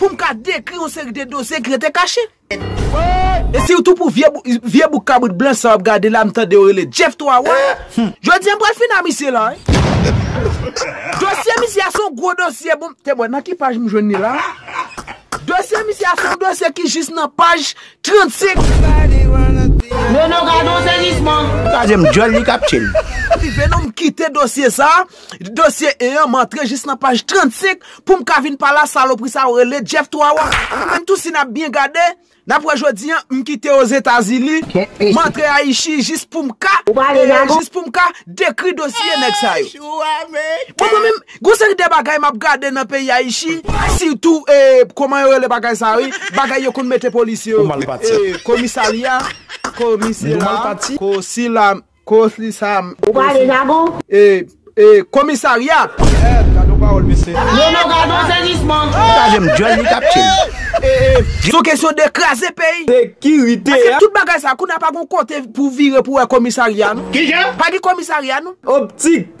Pou m ka dekri yon seri de dosye ki rete kache. E sitou pou vye bouk kabrit blan sa w ap gade la m tande yo rele Jeff 3 wa. Jodi a m pral fini a misye la wi. Dosye misye a se yon gwo dosye bon. Te bon nan ki paj m jwenn li la. Dosye misye a se yon dosye ki jis nan paj 35. Nono gadon sezisman. Twazyèm dyòl li kap tchel. Anyway non m kite dosye sa. Dosye 1 an m antre jis nan paj 35 poum ka vin pale a salopri sa yo rele Jeff 3 wa. Nou menm tou si nap byen gade nap wè jodi an m kite ozetazini m antre ayichi jis poum ka jis poum ka dekri dosye nèg sa yo. Bon mwen menm gon seri de bagay map gade nan peyi ayichi sitou koman yo rele bagay sa wi bagay yo konn mete polisye yo komisalya komisela komisila Kosli sa a Ou pale jagon? E e komisarya! Merd gadon pawol mesye. Nono gadon sezisman. Kraze m dyol li kap tchem. E e son kesyon de kraze peyi. Sekirite a. Paske tout bagay sa a kounye a pa gon kote pou vire pou wè komisarya non. Kijan? Pa gen komisarya non. Optik.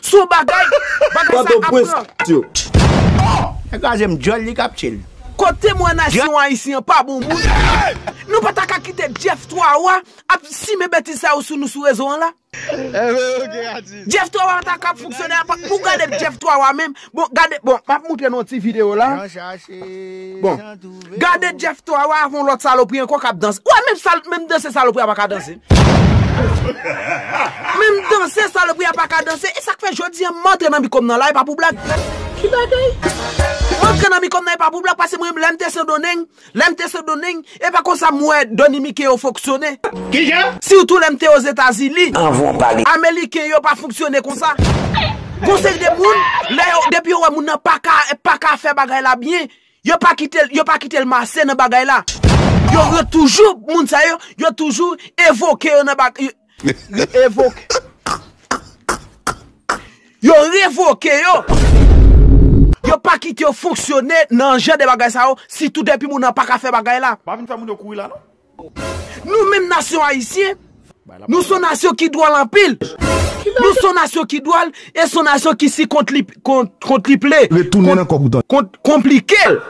Sou bagay, bagay sa ap pran. Nèg la jem dyòl li kap tchel. Kot temwen nasyon ayisyen an pa bon moun Nou pa ta ka kite Jeff 3 wa ap simen betiz sa yo sou nou sou rezo an la Jeff 3 wa ta ka ap fonksyone a pa pou gade Jeff 3 wa menm. Bon gade bon map moutre nou yon ti video la bon gade Jeff to a wa avon lot salopri anko kap danse wa menm sal menm danse salopri a paka danse menm danse salopri a paka danse esak fe jodi an mantre nan mikom nan la epa pou blag ki bagay mantre nan mikom nan epa pou blag pase mwen lèm te sendoneng. Lè m te Sendomeng, e pa konsa m wè Dònimike yo fonksyone. Sitou lè m te Ozetazini. Ameliken yo pa fonksyone konsa. Gon seri de moun, lè yo, depi yo wè moun nan pa ka, pa ka fè bagay la byen, yo pa kite l, yo pa kite l mase nan bagay la. Yo, yo toujou, moun sa yo, yo toujou evoke yo nan bagay, Li evoke. Yo revoke yo. Yo pa kite yo fonksyone nan jan de bagay sa yo, sitou depi moun nan pa ka fè bagay la. Pa vin fè moun yo kouri la non. Nou menm nasyon ayisyen, nou son nasyon ki dwòl anpil. Nou son nasyon ki dwòl e son nasyon ki si kont li. kontriple, konplikel.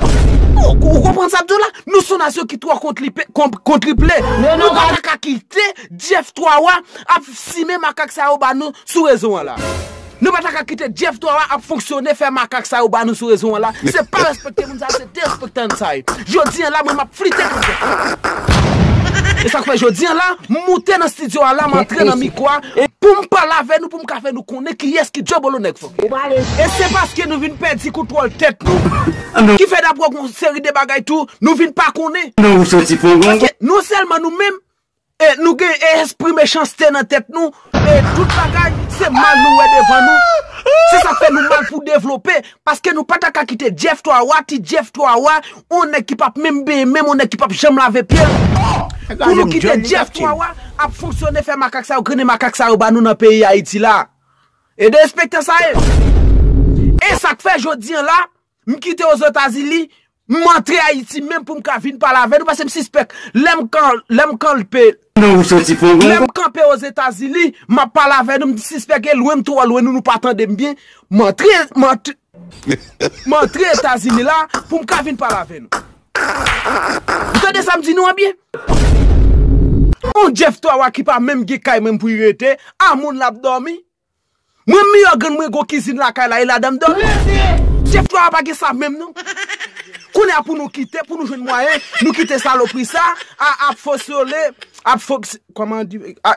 Ou konprann sa m di w la? Nou s on nasyon ki twò kontriple. Nou pa ta ka kite Jeff 3 wa ap simen makak sa yo ba nou sou rezo an la. Nou pa ta ka kite Jeff 3 wa ap fonksyone fè makak sa yo ba nou sou rezo an la. Se pa respekte moun sa yo, se derespekte an sa ye. Jodi an la mwen m ap flite pou Jeff 3 wa. E sa k fè jodi an la, m moute nan stidyo a la, m antre nan mikwo a pou m pale avè nou. M ka fè nou konnen kiyès ki dyòbolo nèg fò. E se paske nou vin pèdi kontwòl tèt nou ki fè dapre w gon seri de bagay tou nou vin pa konnen. Paske non sèlman nou menm nou gen espri mechanste nan tèt nou e tout bagay se mal nou wè devan nou. Se sa k fè nou mal pou devlope paske nou pa ta ka kite Jeff 3 wa, ti Jeff 3 wa On nèg ki pap menm benyen menm on nèg ki pap janm lave pyel pou nou kite Jeff Wawa ap fonksyone fè makak sa yo grennen makak sa yo ba nou nan peyi Ayiti la e de espektan sa ye e sak fè jodi an la m kite ozotazili m antre Ayiti menm pou m ka vin pale avè nou pase m sispèk lè m kan lè m kan lpe lè m kanpe ozetazili m ap pale avè nou m sispèk e lwen m twò lwen nou nou pa tande m byen m antre m antre. M antre Etazini la pou m ka vin pale avè nou. Ou tande sa m di nou an byen? On Jeff Twawa ki pa menm gen kay menm pou li rete, a moun l ap dòmi? Mwen miyò grann mwen gwo kizin lakay la e ladan m dòmi? Jeff Twawa pa gen sa menm non. Kounye a pou nou kite, pou nou jwenn mwayen, nou kite salopri sa a ap fosyole, ap fok, kòman di, a.